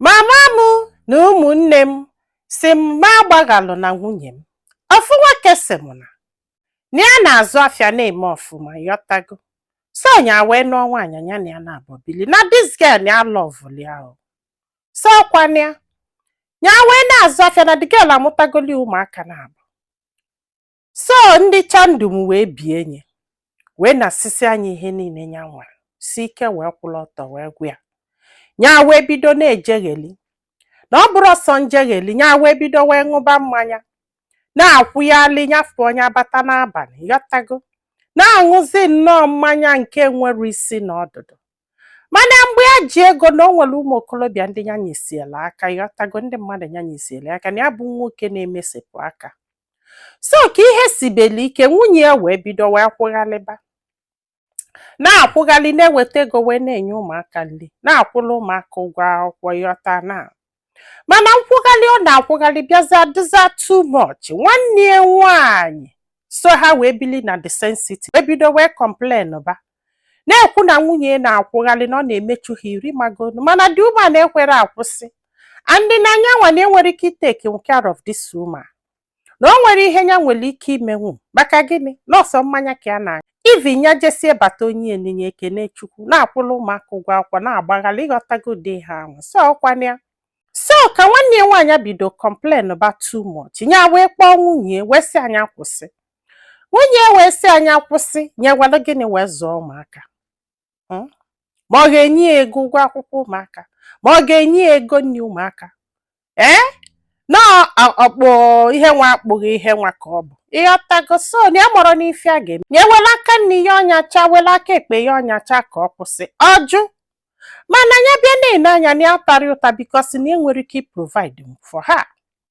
mama m na ụmụnne m si m ma agbaghalụ na nwunye m ofu nwoke si m na na ya na-azụ afịa na-eme ọfụma ịghọtago so nya wee nụọ nwaanyị nya na ya naabọ bili na this girl na ya lọvụli ahụ so ọkwana ya ya wee na-azụ afịa na the girl amụtagoli ụmụaka naabọ so ndị chandum wee bie nya wee nasisia nya ihe niile ya nwere si ike wee kwụrụ ọtọ wee gwa ya ya wee bido na-ejegheli na ọ bụrọ sọ njegheli ya wee bido wee ṅụba mmanya na-akwụghalị nyafụ onye abata n'abalị ịghọtago na-aṅụzi nnọọ mmanya nke enwerọ isi na ọdụdụ mana mgbe ya ji ego na o nwere ụmụ okorobịa ndị ya nyesiela aka ịghọtago ndị mmadụ ya nyesiela aka na ya bụ nwoke na-emesepụ aka so ka ihe sibeli ike nwunye ya wee bido wee kwụghalịba na-akwụghalị na-eweta ego wee na-enye ụmụaka nri na-akwụrụ ụmụaka ụgwọ akwụkwọ ịghọta na mana nkwụghalị ọ na-akwụghalị bịaza dịza too much nwanne ya nwaanyị so ha wee bili na the same city wee bido wee complain ba na-ekwu na nwunye na-akwụghalị na ọ na-emechu ha iru ịmagonu mana the woman ekwerọ akwụsị and na nyanwa na enwerọ ike itake care of this woman na o nwerọ ihe ya nwere ike imenwu maka gịnị na ọ sọ mmanya ka ya na even ya jesie bata o nye ya nni nya ekene chukwu na-akwụla ụmụaka ụgwọ akwụkwọ na-agbaghalị ịghọtago ụdị ihe ahụ so ọkwana ya so ka nwanne ya nwaanyị bido complain ba too much ya wee kpọọ nwunye wee sị ya nya kwụsị nwunye ya wee sị ya nya kwụsị nya ewelu gịnị wee zụọ ụmụaka hmm? ma ọ ga-enye ya ego ụgwọ akwụkwọ ụmụaka ma ọ ga-enye ya ego nri ụmụaka ee eh? na ọkpụ ihe nwa akpụghị ihe nwa ka ọ bụ ịghọtago so na ya amarọ n'ife a ga-eme ya ewela aka nni ya ọnyacha wela aka ekpe ya ọnyacha ka ọ kwụsị ọ jụ mana ya bịa na-ene anya na ya atarọ ya ụta because na enwerọ ike iprovide for ha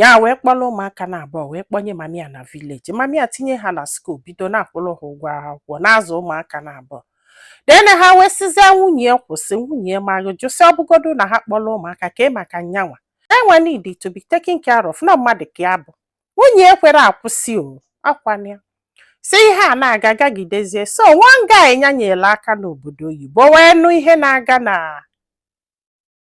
ya wee kpọrọ ụmụaka na abụọ wee kpọnye mami ya na village mami ya tinye ha na school bido na-akwụrụ ha ụgwọ akwụkwọ na-azụ ụmụaka na abụọ then ha wee sizie nwunye ya kwụsị nwunye ya ma jụ sị ọbụgodu na ha kpọrọ ụmụaka kee maka nyanwa enwe need to be taken care of na mmadụ ka ya bụ nwunye ya ekwerọ akwụsị ọkwana ya so ihe a na-aga gagidezie so one guy nya nyere aka n'obodo oyibo wee nụ ihe na-aga na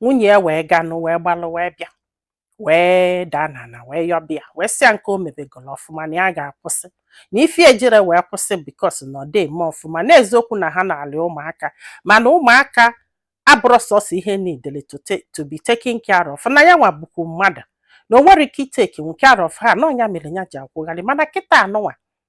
nwunye ya wee ga nụ wee gbalụ wee bịa wee daa n'ala wee yọba ya wee sị ya nke o mebegolo ọfụma na ya ga-akwụsị na ife ejirọ wee kwụsị because na ọ dị eme ọfụma na eziokwu na ha nalị ụmụaka mana ụmụaka abụrọ sọsọ ihe needili to be taken care of na ya nwa bụkwu mmadụ na o nwerọ ike itake care of ha na ọ nya mere ya ji akwụghalị mana kịtaa nụnwa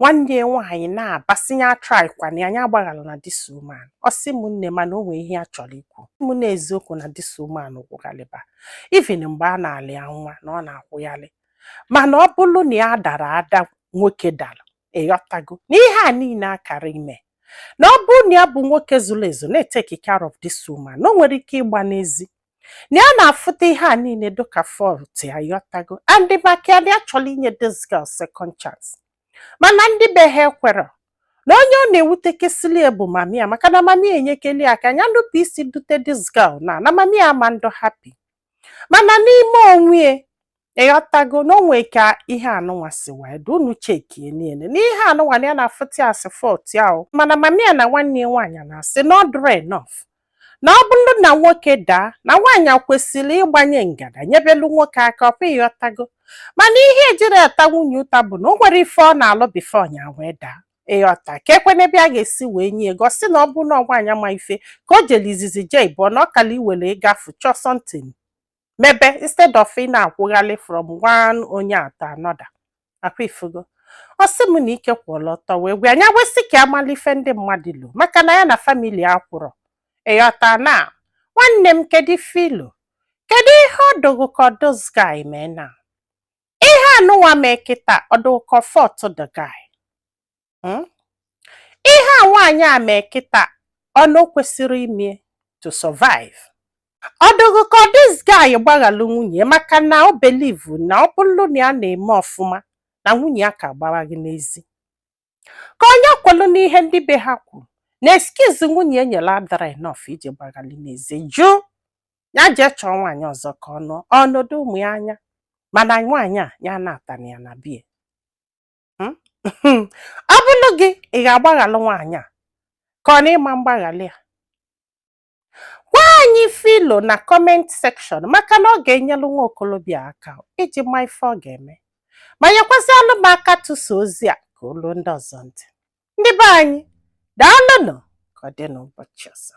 nwanne ya nwaanyị na-aba sị ya atrykwana ya nya agbaghalụna this woman ọ sị m nne mana o nwee ihe ya chọrọ ikwu mụ na eziokwu na this woman kwụghalịba even mgbe a na-alụ ya nwa na ọ na-akwụghalị mana ọ bụrụ na ya dara ada nwoke dara ịghọtago na ihe a niile akara ime na ọ bụrụ na ya bụ nwoke zuru ezu na-eteki care of this woman na o nwere ike ịgba n'ezi na ya na-afụta ihe a niile dịka fault ya ịghọtago and maka ya na ya chọrọ inye this girl second chance mana ndị be ha ekwerọ na onye ọ na-ewutekasịlị ya bụ mami ya maka na mami ya enyekeli ya aka ya nupụ isi dute this girl na na mami ya ama ndụ happy mana n'ime onwe ya ịghọtago na o nwe ka ihe anụnwa si wee dị unu chekie niile na ihe anụnwa na ya na-afụta as fault ya o mana mami ya na nwanne ya nwaanyị na-asị na ọ dịrị enough na ọ bụrụ na nwoke daa na nwaanyị kwesịrị ịgbanye ngada nyebelu nwoke aka ọkwa ịghọtago mana ihe ejiri ata nwunye ụta bụ na o nwere ife ọ na-alụ before nya wee daa ịghọta ka ekwe n'ebe a ga-esi wee nye ego sị na ọ bụrụ na ọ nwaanyị ma ife ka o jere izizi jee ịbụọ na ọ kala iwere ịgafu chọọ something mebe instead of ị na-akwụghalị from one onye to another akwa ifugo ọ sị m na ike kwụrụ ọtọ wee gwụ nya wee sị ka a mala ife ndị mmadụ lo maka na ya na family akwụrụ ịghọta na nwanne m kedu ife i lo kedu ihe ọ dụ gụ ka ọ this guy mee na ihe anụnwa mee kịta ọ dụ gụ ka ọ fault the guy hmm? ihe a nwaanyị a mee kịta ọnụ o kwesịrị ime to survive ọ dụ gụ ka this guy gbaghalụ nwunye maka na o believe na ọ bụrụ na ya na-eme ọfụma na nwunye ya aka agbaghị n'ezi ka ọ nya kwelu n'ihe ndị be ha kwuru na excuse nwunye ya nyere adara enough iji gbaghali n'ezi jụ ya jee chọọ nwaanyị ọzọ ka o nee ọnọdụ ụmụ ya anya mana nwaanyị a ya anatana ya na bie hmm? ọ bụrụ gị ị ga-agbaghalụ nwaanyị a ka ọ na ị ma mgbaghalụ ya gwa anyị ife i lo na comment section maka na ọ ga-enyelụ nwa okolobịa aka iji ma ife ọ ga-eme ma nyekwazịanụ m aka tụsa ozi a ka o lu ndị ọzọ ntị ndị be anyị daalụnụ ka ọ dị n'ụbọchị ọzọ